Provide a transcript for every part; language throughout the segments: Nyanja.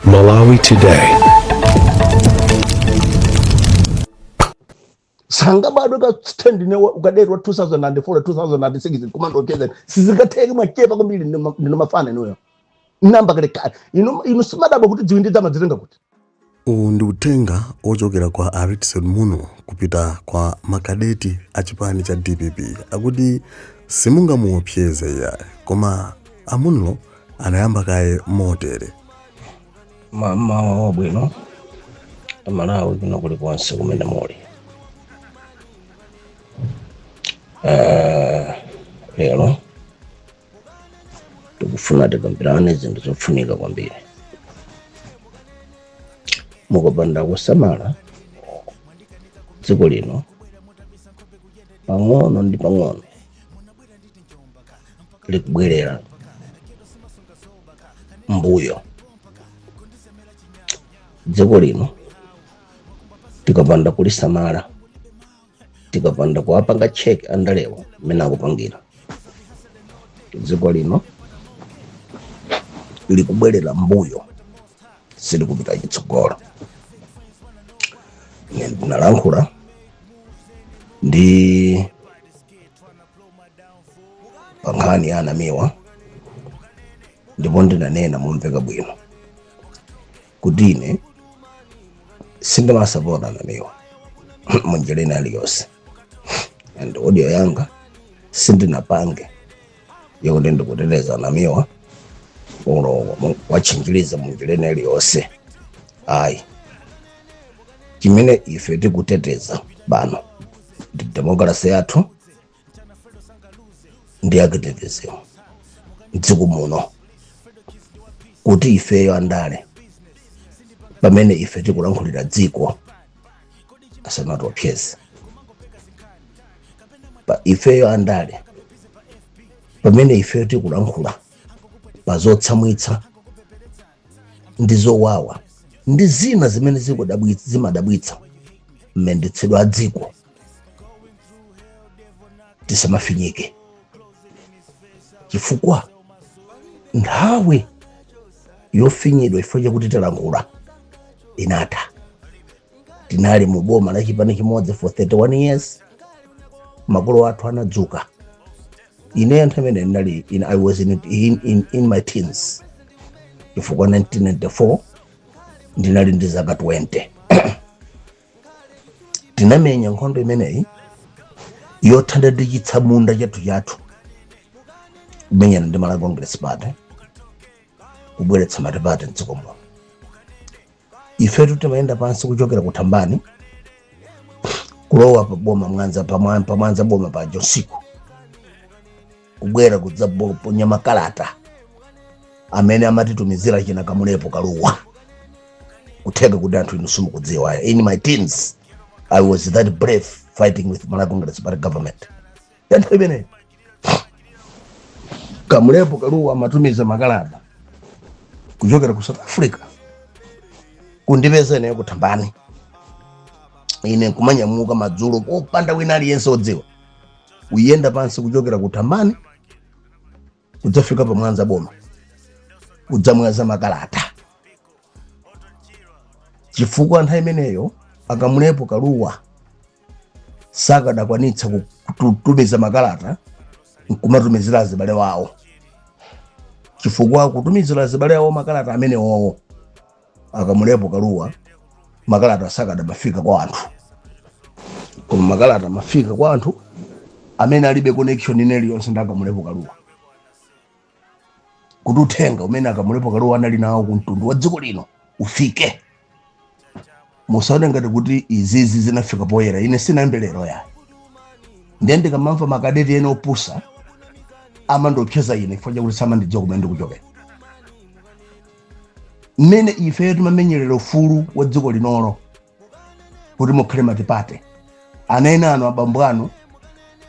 Malawi Today. sangabadwe ka stand ne ukadetwa 2004 2006 kumandocheza sizikatheka mwachepa kwambiri ndinu mafana inuyo namba kale kale inu inu simunabadwe kuti dziwindi dzamadzitenga kuti Uwu ndi uthenga wochokera kwa a Redson Munlo kupita kwa makadeti a chipani cha dpp akuti simungamuopseze iyayi koma a Munlo anayamba kaye motere. Mmawa wabwino aMalawi kwina kulikonse kumene muli Eh, lero ndikufuna tikambirane zinthu zofunika kwambiri mukapanda kusamala dziko lino pang'ono ndi pang'ono likubwerera mbuyo dziko lino tikapanda kulisamala tikapanda kuwapanga check andalewa mmene akupangira dziko lino likubwerera mbuyo silikupita chitsogolo ine ndinalankhula ndi pa nkhani ya anamiwa ndipo ndinanena momveka bwino kuti ine sindimasapota a Namiwa munjira ina iliyonse and audio yanga sindinapange yokuti ndikuteteza a Namiwa olo kuwatchinjiriza munjira ina iliyonse ayi chimene ife tikuteteza pano ndi demokrasi yathu ndi activism mdziko muno kuti ifeyo andale pamene ife tikulankhulira dziko asamatiopseze ifeyo andale pamene ifeyo tikulankhula pa zotsamwitsa ndi zowawa ndi zina zimene zimadabwitsa mmendetsedwe a dziko tisamafinyike chifukwa nthawi yofinyidwa chifukwa chakuti talankhula inatha tinali mu boma la chipani chimodzi for 31 years makolo athu anadzuka ineyo nthawi imene ndinali in, i was in, in, in, in my teens chifukwa 1994 ndinali ndi zaka 20 tinamenya nkhondo imeneyi yothana ndi chitsamunda chathu chathu kumenyana ndi malawi congress party kubweretsa matipate mdziko muno ifetu timayenda pansi kuchokera ku thambani kulowa pa boma pamwanza boma paja usiku kubwera kudzaponya makalata amene amatitumizira achina kamulepo kaluwa kutheka kuti anthu inu simukudziwa in my teens i was that brave fighting with malawi congress party government ya nthawi imeneyo kamulepo kaluwa amatumiza makalata kuchokera ku south africa kundipeza ineyo kuthambani ine kumanyamuka madzulo popanda wina aliyense odziwa kuyenda pansi kuchokera ku thambani kudzafika pa mwanza boma kudzamwaza makalata chifukwa nthawi imeneyo akamulepo kaluwa sakadakwanitsa kutumiza makalata nkumatumizira azibale wawo chifukwa kutumizira azibale wawo makalata amenewowo akamulepo kaluwa makalata sakadamafika kwa anthu koma makalata amafika kwa anthu amene alibe connection ina iliyonse ndi akamulepo kaluwa kuti uthenga umene akamulepo kaluwa anali nawo ku mtundu wa dziko lino ufike musaone ngati kuti izizi zinafika poyera ine sinayambe lero ayi ndiye ndikamamva makadeti ena opusa amandiopseza ine chifukwa chakuti samandidziwa kumene ndikuchokera mmene ifeyo timamenyerera ufulu wa dziko linolo kuti mukhale matipate ana enanu abambo anu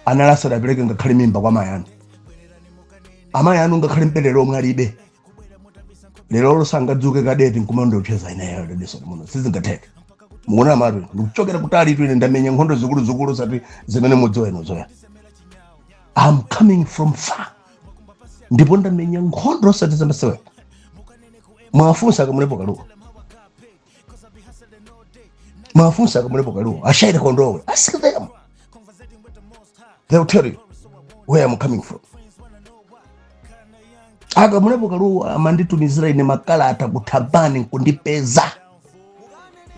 anali asadapereke ngakhale mimba kwa mayi anu amayi anu ngakhale mabere omwe alibe lero sangadzuke kadeti nkumandiopseza ineyo redson munlo sizingatheke mukunamatu ndikuchokera kutalitu ine ndamenya nkhondo zikuluzikulu osati zimene mudziwa inuzo ayi i'm coming from far ndipo ndamenya nkhondo osati zamasewera muwafunse akamulepo kaluwa muwafunse akamulepo kaluwa a shyley kondowe ask them they will tell you where i'm coming from akamulepo kaluwa amanditumizira ine makalata kuthambani nkundipeza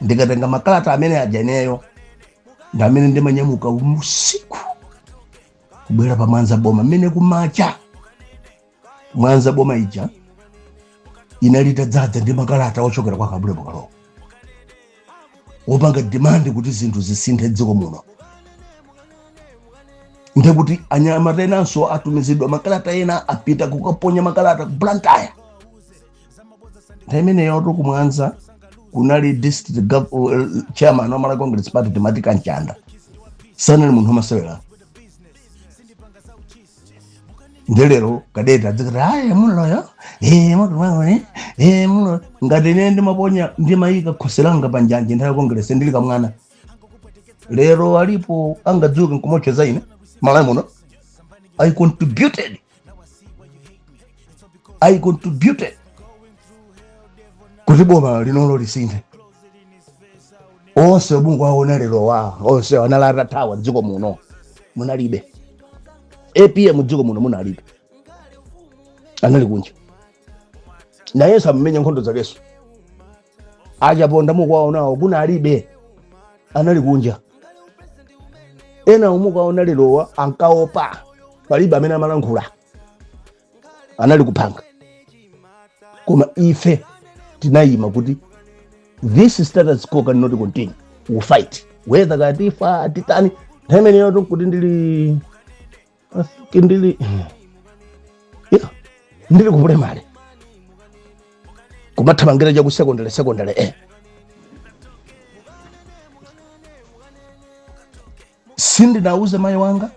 ndikatenga makalata amene aja ineyo ndamene ndimanyamuka usiku kubwera pa mwanza boma mmene kumacha mwanza boma ija inali itadzadza ndi makalata ochokera kwa kamulepo kaluwa wopanga demand kuti zinthu zisinthe mdziko muno ndekuti anyamata enanso atumizidwa makalata ena apita kukaponya makalata ku blantyre nthawi imeneyo tu kumwanza kunali district chairman wa malawi congress party timothy kamchanda sanali munthu wamasewera nde lero kadeti adzikati ayi muloyo ee mutumangoni ee muloyo ngati ine ndimaponya ndimayika khosi langa pa njanje nthawi ya congress ndili kamwana lero alipo angadzuke nkumocheza ine malawi muno i contributed i contributed kuti boma linolo lisinthe onse omwe mukuwaona lerowa onse anali atathawa mdziko muno munalibe apm mdziko muno munalibe anali kunja nayenso akumenya nkhondo zakeso achaponda mukuwaonawo kunalibe anali kunja ena omwe mukuwaona lerowa ankaopa palibe amene amalankhula anali kupanga koma ife tinayima kuti this status quo cannot continue we fight whether katifa titani nthawi imeneyotu kuti ndili ndili kupulaimale kumathamangira cha ku sekondale sekondale sindinauze mayi wanga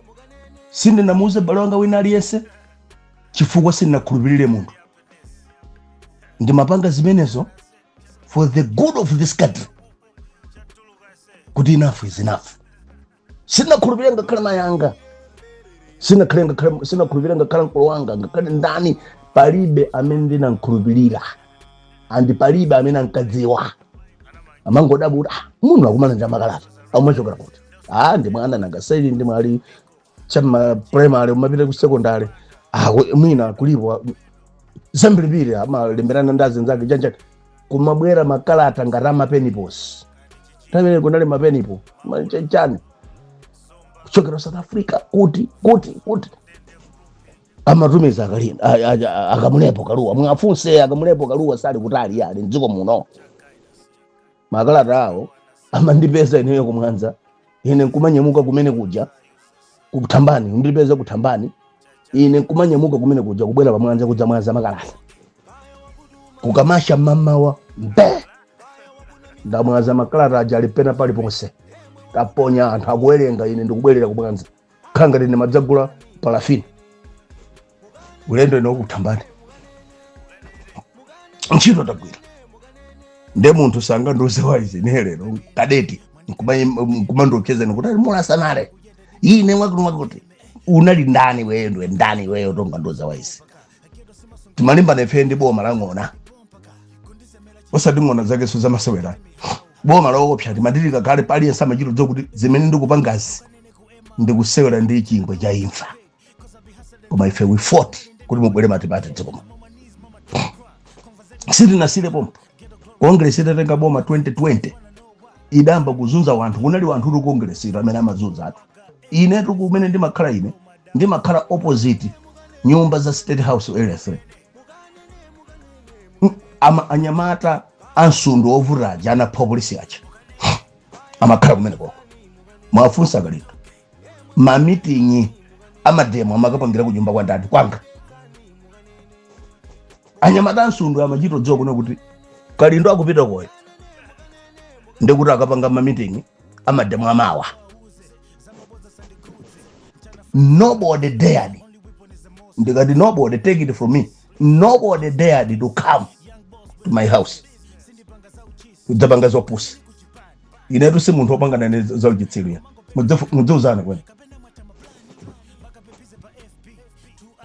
sindinamuuze bale wanga wina aliyense chifukwa sindinkakhulupirira munthu ndimapanga zimenezo for the good of this country kuti enough is enough sindinkakhulupirira ngakhale mayi anga sindinkakhulupirira ngakhale mkulu wanga ngakhale ndani palibe amene ndinamkhulupirira andi palibe amene ankadziwa amangodabwa kuti ah, munthu akumana ndi makalata akumachokera kuti ah, ndi mwana nanga saili ndi mwali chama primary umapita ku secondary ah, ku- mwina kulipo zambirimbiri amalemberana ndi azinzake chanichani kumabwera makalata ngati amapenipo si nthawi imeneyo kunali mapenipo ma- cha- chani kuchokera ku south africa kuti kuti kuti amatumiza akali- a- a- a- akamulepo kaluwa mwafunse akamulepo kaluwa sali kutali iye ali mdziko muno makalata awo amandipeza ineyo kumwanza ine nkumanyamuka kumene kuja kuthambani kundipeza kuthambani ine nkumanyamuka kumene kuja kubwera pamwanza kudzamwaza makalata kukamacha mamawa nkuti ndamwaza makalata aja aja pena paliponse taponya anthu akuwerenga ine ndikubwerera kumwanza khala ngati ine madzagula palafini ulendo ine ukuthambani ntchito tagwira nde munthu sangandiuze waizi ine lero kadeti nkumandiopsezani kuti ali mulasanale ine mwakutimwakuti unali ndani weyo ndiwe ndani weyo tongandiuza waizi timalimbana ife ndi boma la ng'ona osati ng'ona zakezo zamasewera boma loopsa timadilika kale aliyense amachita kudziwa kuti zimene ndikupangazi ndikusewera ndi chingwe cha imfa koma ife we fought kuti mubwere matipate dziko muno sitinasiire pompo kongresi itatenga boma 2020 idayamba kuzunza wanthu kunali wanthu uli kongresi amene amazunza anthu ine ndi kumene ndimakhala ine ndimakhala opposite nyumba za state house area 3 Ama- anyamata amsundwe ovuta aja anapha polisi aja amakhala kumene koko muwafunse kalindo mamitingi amademo amakapangira ku nyumba kwa ndani kwanga anyamata amsundwe amachito kudziwa kuno kuti kalindo akupita koyo ndekuti akapanga mamitingi amademo amawa nobody dared ndikati nobody take it from me nobody dared to come to my house kudzapanga zopusa inetu si munthu wopangana ne zauchitsilu ya mudziuzana kwene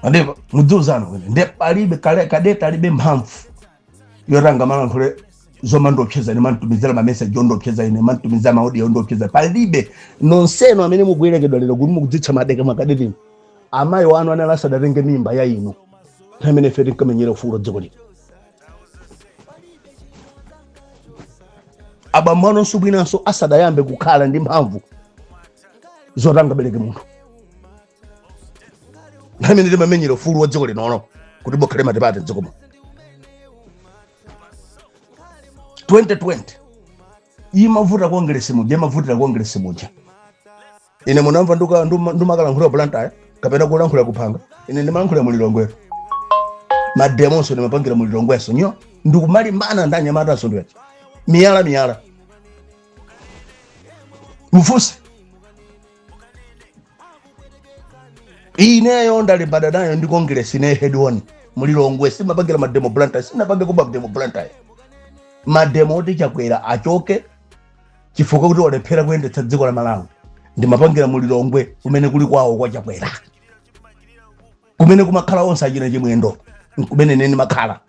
ande mudziuzana kwene nde palibe kale- kadeta alibe mphamvu yoti angamalankhule zomandiopseza ine mumanditumizira mameseji ondiopseza ine mumanditumizira maaudio ondiopseza palibe nonse inu amene mukuyerekedza lero kuti mukudzitcha madeka makadeti inu amayi wanu anali asadatenge mimba ya inu nthawi imene ife tinkamenyera ufulu wa dziko lino abambo anunso mwinanso asadayambe kukhala ndi mphamvu zoti angabereke munthu nthawi imene timamenyera ufulu wa dziko linono kuti mukhale matipate mdziko muno 2020 imavuta kongresi muja imavutira kongresi muja ine munamva nduka- nduma- ndumakalankhula blantyre kapena kulankhula kuphanga ine ndimalankhula mulilongwe nso mademonso ndimapangira mulilongwe nso ineyo ndikumalimbana ndi anyamata amsundwe nso miyala miyala muwafunse ineyo ndalimbana nayo ndi congress ine head on mulilongwe simapangira mademo blantyre sinapangeko mademo blantyre mademo oti chakwera achoke chifukwa kuti walephera kuyendetsa dziko la malawi ndimapangira mulilongwe kumene kuli kwawo kwa chakwera kumene kumakhala onse achina chimwendo kumene ine ndimakhala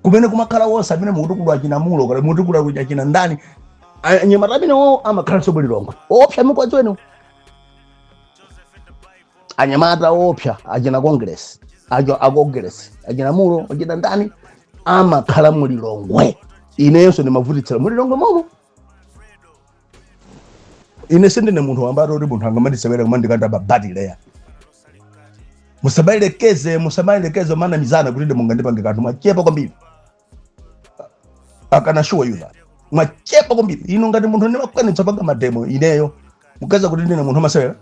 kumene kumakhala wonse amene mukutukulu achina mulo kale mutukulu akuja achina ndani anyamata amenewo amakhala nso mulilongwe oopsa mukuwadziwa inu anyamata oopsa achina congress a congress achina mulo achina ndani amakhala mulilongwe inenso ndimavutitsira mulilongwe momo ine sindine munthu wambati kuti munthu angamandisewere kumandikanda babati leya musamayelekeze musamayelekeze mmanamizana kuti mungandipange kanthu mwachepa kwambiri I can assure you that mwachepa kwambiri ine ngati munthu ndimakwanitsa panga mademo ineyo mukuyesa kuti ndine munthu amasewera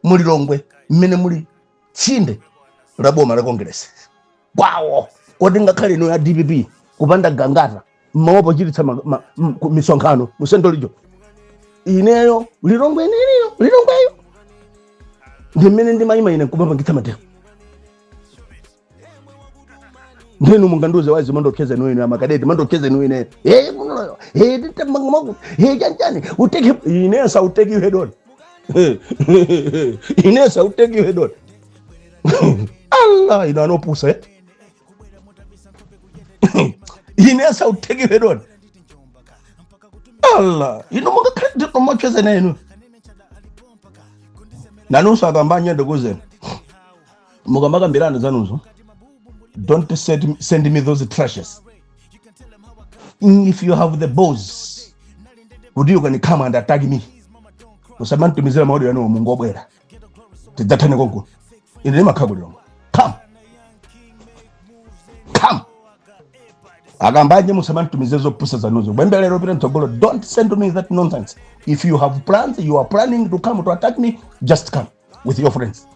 mu lilongwe mmene muli tsinde la boma la kongeresi kwawo koti ngakhale ino ya dpp kupanda gangata mmaopa kuchititsa ma- ma- m- ku- misonkhano mu central region ineyo lilongwe iniliyo lilongweyo ndi mmene ndimayima ine nkumapangitsa mademo ndinu mungandiuze wazi mmandiopseza inu ine amakadeti mmandiopseza inu ine ee kunoyo ee titamangamaku ee chanchani I'll take ine I shall take you head on ine I shall take you head on allah inu ana opusa eh? ine I shall take you head on allah inu mungakhale kumandiopseza ine inu nanunso akambanje ndikuuzeni mukamakambirana zanuzo don't send, send me those trashes Mm, if you have the balls kuti you can come and attack me musamanditumizire ma audio yanuwo mungobwera tidzathane konkuno ine ndimakhala ku lilongwe come come akambanje musamanditumize zopusa zanuzo kuyambira lero pita mtsogolo don't send me that nonsense if you have plans you are planning to come to attack me just come with your friends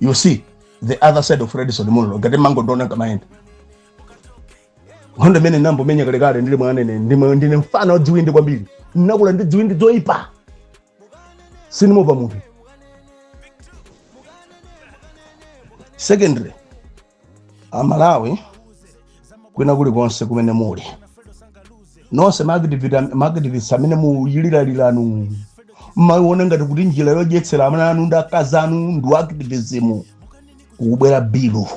you see the other side of redson munlo ngati mmangondiona kamayenda nkhondo imene ndinayamba kumenya kalekale ndili mwana ine ndine mfana wadziwindi kwambiri ndinakula ndi dziwindi zoyipa sindimaopa munthu secondly amalawi kwina kulikonse kumene muli nonse ma activist amene muyiliraliranu mmayiona ngati kuti njira yodyetsera ana anu ndi akazi anu ndi activism kukubwera bilu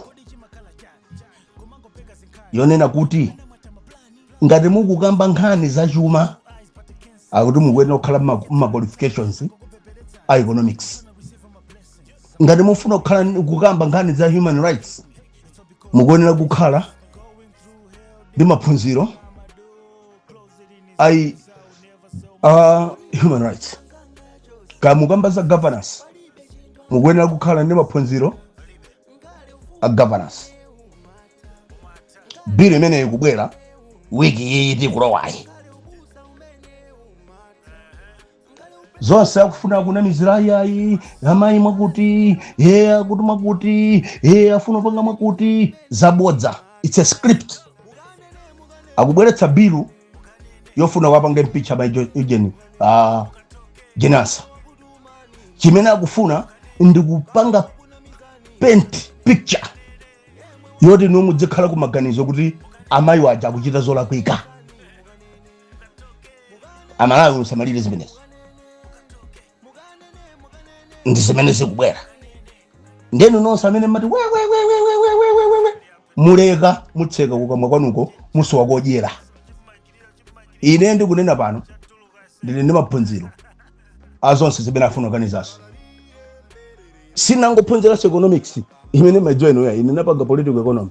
yonena kuti ngati mukukamba nkhani za chuma akuti mukuyenera kukhala mma- mma qualifications a economics ngati mufuna kukhala ndi- kukamba nkhani za human rights mukuyenera kukhala ndi maphunziro ayi a human rights kaya mukamba za governance mukuyenera kukhala ndi maphunziro a governance bill imeneyi ikubwera wiki iyi tikulowayi zonse akufuna kunamizira ayayi amayi mwakuti ye akuti mwakuti ye afuna kupanga mwakuti zabodza its a script akubweretsa bilu yofuna wapanga impeach amayi ujeni Jane Ansah chimene akufuna ndikupanga paint picture yoti inu muzikhala kumaganizo kuti amayi waja akuchita zolakwika amalawi musamalire zimenezi ndi zimene zikubwera ndenu nonse amene mumati wewewewewewewewewe muleka mutseka kukamwa kwanuko musowa kodyera ine ndikunena pano ndili ndi maphunziro azonse zimene afuna oganizawo sinangophunziranso economics imene mumaidziwa inuyo ine napanga political economy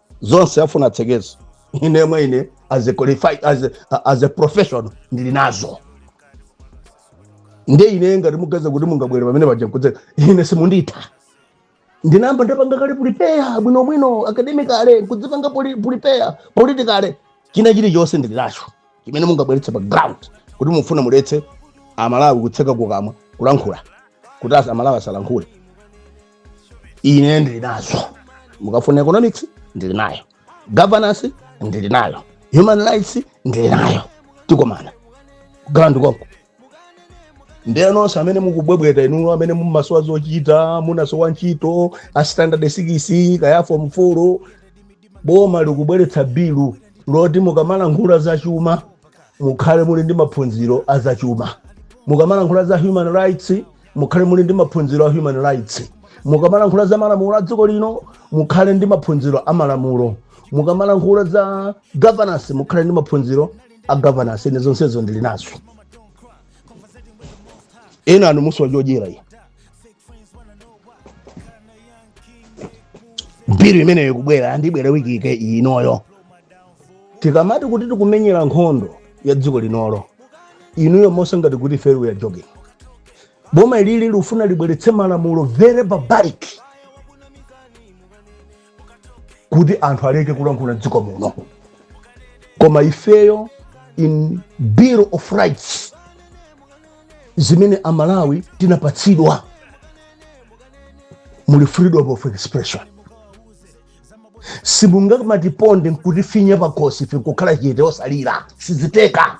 zonse afuna atsekezo ine mwene as a qualified as a, as a professional ndili nazo nde ine ngati mukuganiza kuti mungabwere pamene paja nkutseka ine simunditha ndinayamba ndapanga kale prepare bwinobwino academically nkudzipanga prepare politically china chilichonse ndili nacho chimene mungabweretse pa ground kuti mufuna muletse amalawi kutseka kukamwa kulankhula kuti asa- amalawi asalankhule ine ndili nazo mukafuna economics ndili nayo governance ndili nayo human rights ndili nayo tikumana ground konko ndiye nonse amene mukubwebweta inuyo amene mumasowa zochita munasowa ntchito a standard 6 kaya form 4 boma likubweretsa bilu loti mukamalankhula za chuma mukhale muli ndi maphunziro a za chuma mukamalankhula za human rights mukhale muli ndi maphunziro a human rights mukamalankhula za malamulo a dziko lino mukhale ndi maphunziro a malamulo mukamalankhula za governance mukhale ndi maphunziro a governance ine zonsezo ndili nazo ena inu musowa chodyera iyi bilu imeneyo ikubwera and ibwera wiki yake inoyo tikamati kuti tikumenyera nkhondo ya dziko linoli inuyo mumaona ngati kuti ife we are joking boma ilili lufuna libweretse malamulo very barbaric kuti anthu aleke kulankhula m'dziko muno koma ifeyo in bill of rights zimene amalawi tinapatsidwa muli freedom of expression simungamatiponde nkutifinya pakhosi ife nkukhala chete osalira sizitheka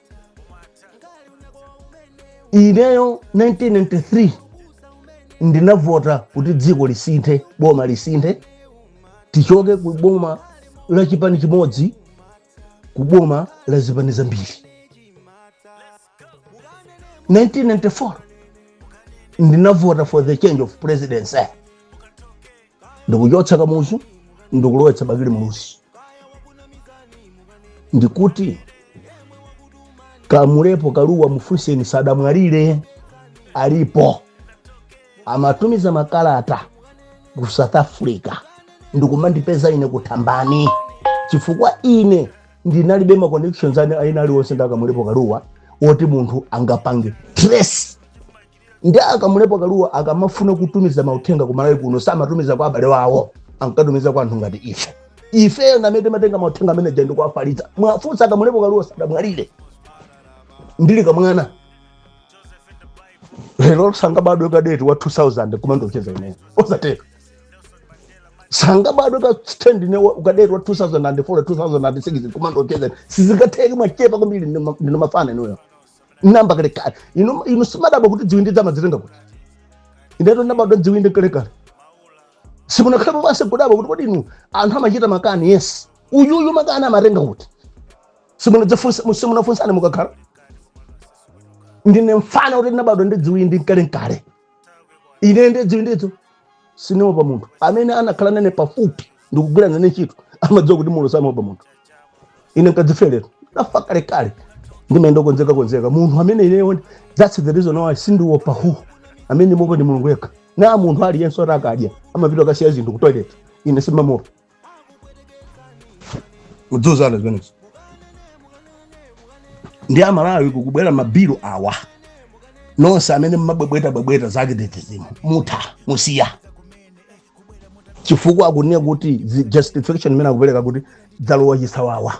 ineyo 1993 ndinavota kuti dziko lisinthe boma lisinthe tichoke ku boma la chipani chimodzi ku boma la zipani zambiri 1994 ndinavota for the change of presidency ndikuchotsa kamuzu ndikulowetsa bakili muluzi ndikuti kamlepo kalua mufunseni sadamwalire alipo amatumiza makalata ku south africa ndikumandipeza ine ku thambani chifukwa ine ndinalibe ma connections ane ena aliwonse nda kamlepo kalua oti munthu angapange trace ndi a kamlepo kalua akamafuna kutumiza mauthenga ku malawi kuno samatumiza kwa abale wawo ankatumiza kwa anthu ngati ife ifeyo ndamene timatenga mauthenga amene aja ndikuwafalitsa muwafunse a kamlepo kalua sadamwalire ndili kamwana lero sangabadwe kadeti wa 2000 koma ndiocheza ineyo osatheka sangabadwe ka stand ne wa- ukadeti wa 2004 2006 koma ndiocheza sizingatheke mwachepa kwambiri ndinu mafana inuyo ndayamba kalekale inu inu simadabwa kuti dziwindidzo amadzitenga kuti inetu ndabadwa dziwindi kalekale simunakhalepo basi kudabwa kuti kodi inu anthu amachita makani yes uyuyu makani amatenga kuti simunadzifunsa- simunafunsane mukakhala ndine mfana kuti ndinabadwa ndi dziwindi nkalenkale ine nde dziwindidzo sinimuopa munthu amene anakhala nane pafupi ndikugwira nane ntchito amadziwa kuti mulo samaopa munthu ine nkadzifere ndinafa kalekale ndimayenda konzeka konzeka munthu amene ineyo that's the reason why sindiopa amene ndimuopa ndi mulungu yekha not munthu aliyense oti akadya amapita kukasiya zinthu ku toilet ine simamuopa mudziuzana zimenezo nde amalawi kukubwera mabilu awa nonse amene mmabwebweta bwebweta zake the regime mutha musiye chifukwa akunena kuti zi- justification imene akupereka kuti zalowa chisawawa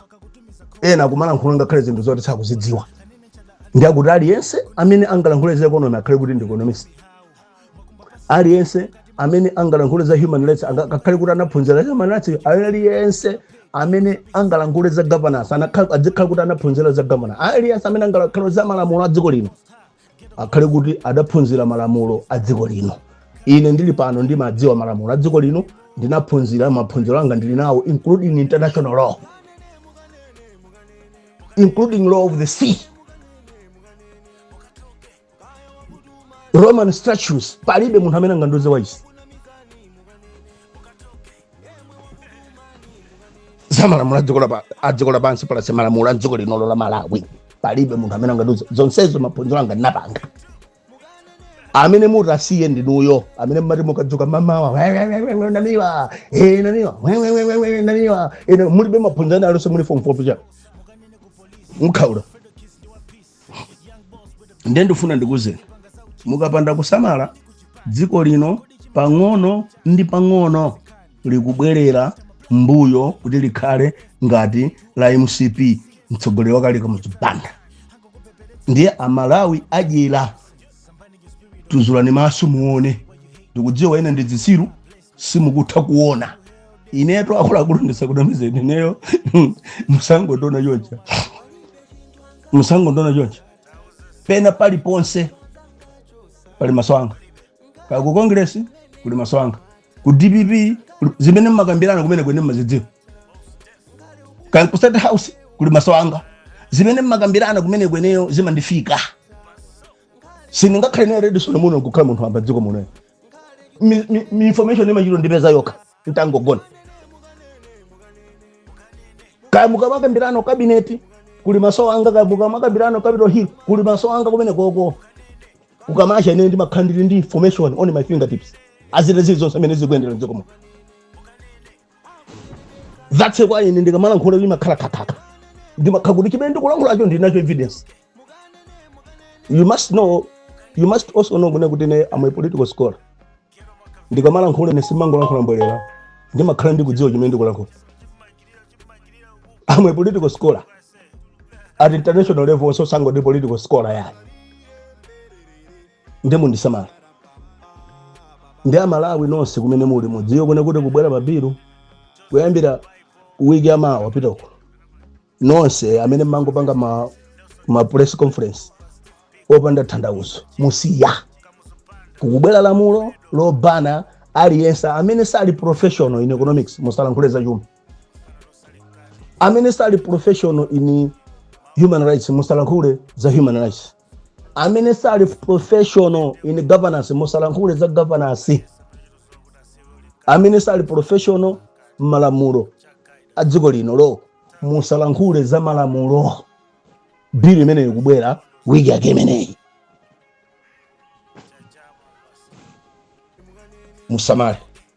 ena kumalankhula ngakhale zinthu zoti sakuzidziwa ndi akuti aliyense amene angalankhule za economy akhale kuti ndi economist aliyense amene angalankhule za human rights anga- akhale kuti anaphunzira za human rights aliyense amene angalankhule za governance anakhala- adzikhala kuti anaphunzira za governance aliyense amene angalankhule za malamulo a dziko lino akhale kuti adaphunzira malamulo a dziko lino ine ndili pano ndimadziwa malamulo a dziko lino ndinaphunzira maphunziro anga ndili nawo including international law including law of the sea roman statutes palibe munthu amene angandiuze waisi za malamulo a dziko lapa- a dziko lapansi plus malamulo a dziko linolo la malawi palibe munthu amene angandiuze zonsezo maphunziro anga ndinapanga amene muti musiye ndinuyo amene mmati mukadzuka mamawa "We, we, we, we, we, namiwa eh, namiwa we, we, we, we, we, namiwa Eh, na- mulibe maphunziro anu alonse muli form four bwinja mukhaula ndiye ndifuna ndikuuzeni mukapanda kusamala dziko lino pang'ono ndi pang'ono likubwerera mbuyo kuti likhale ngati la mcp mtsogoleri wakale kamuzu banda ndiye amalawi adyera tuzulani maso muone ndikudziwa inu ndi zitsiru simukutha kuona inetu akuluakulu ndisakunamizeni ineyo musangondiona choncha musangondiona choncha pena paliponse pali maso anga kaya ku congress kuli maso anga ku dpp kuli- zimene mmakambirana kumene kweneyo ndimazidziwa kaya ku state house kuli maso anga zimene mmakambirana kumene kweneyo zimandifika sindingakhale pa radio station muno nkukhala munthu wamba mdziko muno Mi- mi- mi information imachita ondipeza yokha ntangogona kaya mukamakambirana kabineti kuli maso anga kaya mukamakambirana capital hill kuli maso anga kumenekoko kukamacha ine ndimakhala ndili ndi information on my fingertips za zili zonse mmene zikuyendera mdziko muno that's why ine ndikamalankhula ndimakhala khakhakha ndimakhala kuti chimene ndikulankhulacho ndinacho evidence you must know you must also know kunena kuti ine am a political scholar ndikamalankhula ine sindimangolankhula mbwerera ndimakhala ndikudziwa chimene ndikulankhula am a political scholar at international level so sindangoti political scholar yani nde mundisamale ndi amalawi nonse kumene muli mudziwe kunena kuti kukubwera mabilu kuyambira wiki yamawa wapita uko nonse amene mmangopanga ma, ma press conference opanda tanthauzo musiya kukubwera lamulo lobana aliyense amene sali professional in economics musalankhule za chuma amene sali professional in human rights musalankhule za human rights amene sali professional in governance musalankhule za governance amene sali professional malamulo a dziko linolo musalankhule za malamulo bili imeneyi ikubwera wiki yake imeneyi musamale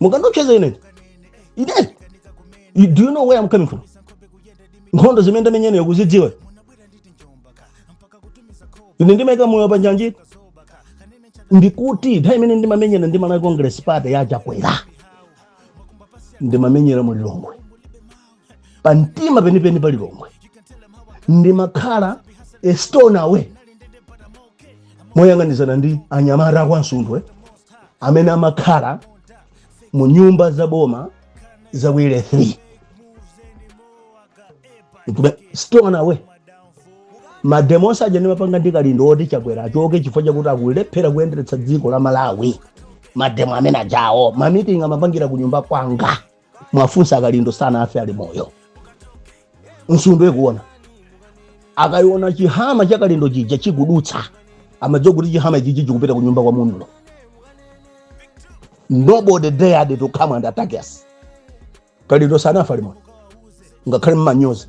mukandiopseza ine ine You- do you know where i'm coming from nkhondo zimene ndamenya ineyo mukuzidziwa ine ndimaika moyo panjanji ndikuti nthawi imene ndimamenyana ndi malawi congress party ya chakwera ndimamenyera mu lilongwe pa mtima penipeni pa lilongwe ndimakhala a stone away moyang'anizana ndi anyamata akwa nsundwe amene amakhala mu nyumba za boma za area 3 Nkuba- stone away mademo aja ndimapanga ndi kalindo oti chakwera achoke chifukwa chakuti akulephera kuyenderetsa dziko la malawi mademo amene ajawo mamitingi amapangira ku nyumba kwanga mwafunsa akalindo sanafe ali moyo nsundwe kuona akayiona chihama cha kalindo chija chikudutsa amadziwa kuti chihama ichichi chikupita kunyumba kwa munlo nobody dared to come and attack us kalindo sanafe ali moyo ngakhale mmanyozi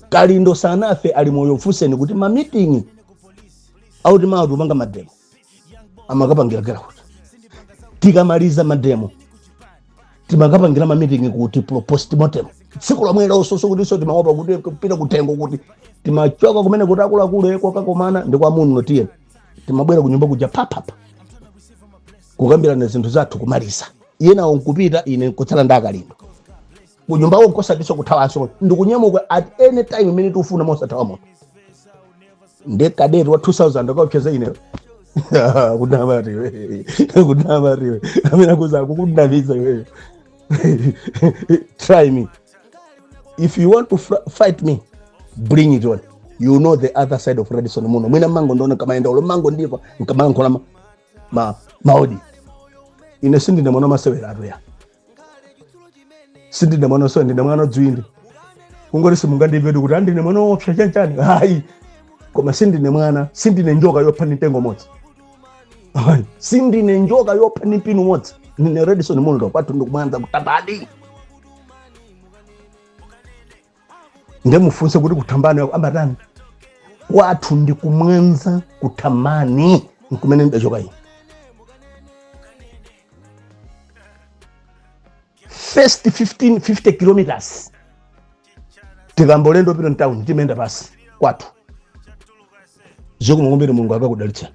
kalindo sanafe ali moyo mfunseni kuti mamitingi oti mawa tupanga mademo amakapangikira kuti tikamaliza mademo timakapangira mamitingi kuti pro- postmortem tsiku lomwelonso kuti so timaopa kuti kupita kutengo kuti timachoka kumene kuti akuluakulu e kokakomana ndi kwa munlo tiye timabwera kunyumba kuja papapa kukambirana zinthu zathu kumaliza iye nawo nkupita ine nkutsala nda kalindo kunyumba uko kosatinso kuthawanso ndikunyamuka at any time imene tikufuna mosathawa munthu ndi kadeti wa 2000 akaopseza ineyo kunama riwe kunama riwe amene akuuza akukunamiza iweyo try me if you want to fr- fight me bring it on you know the other side of redson munlo mwina mmangondiona nkamayenda olo mmangondimva nkamayankhula ma, ma, maodi ine sindine mwana wamasewera atuya sindine mwana so ndine mwana dzwindi kungoti simungandimvetu kuti a ndine mwana woopsa chanichani hayi koma sindine mwana sindine njoka yopha ni mtengo modzi Hayi, sindine njoka yopha ni mpini umodzi ndine redson munlo kwathu ndi kumwanza kuthambani nde mufunse kuti kuthambani ambatani kwathu ndi kumwanza kuthambani nkumene ndidachoka ine first 15 50 kilometers tikayamba ulendo wopita mtown timayenda pansi kwathu zokumukumbira mulungu akakudalitsani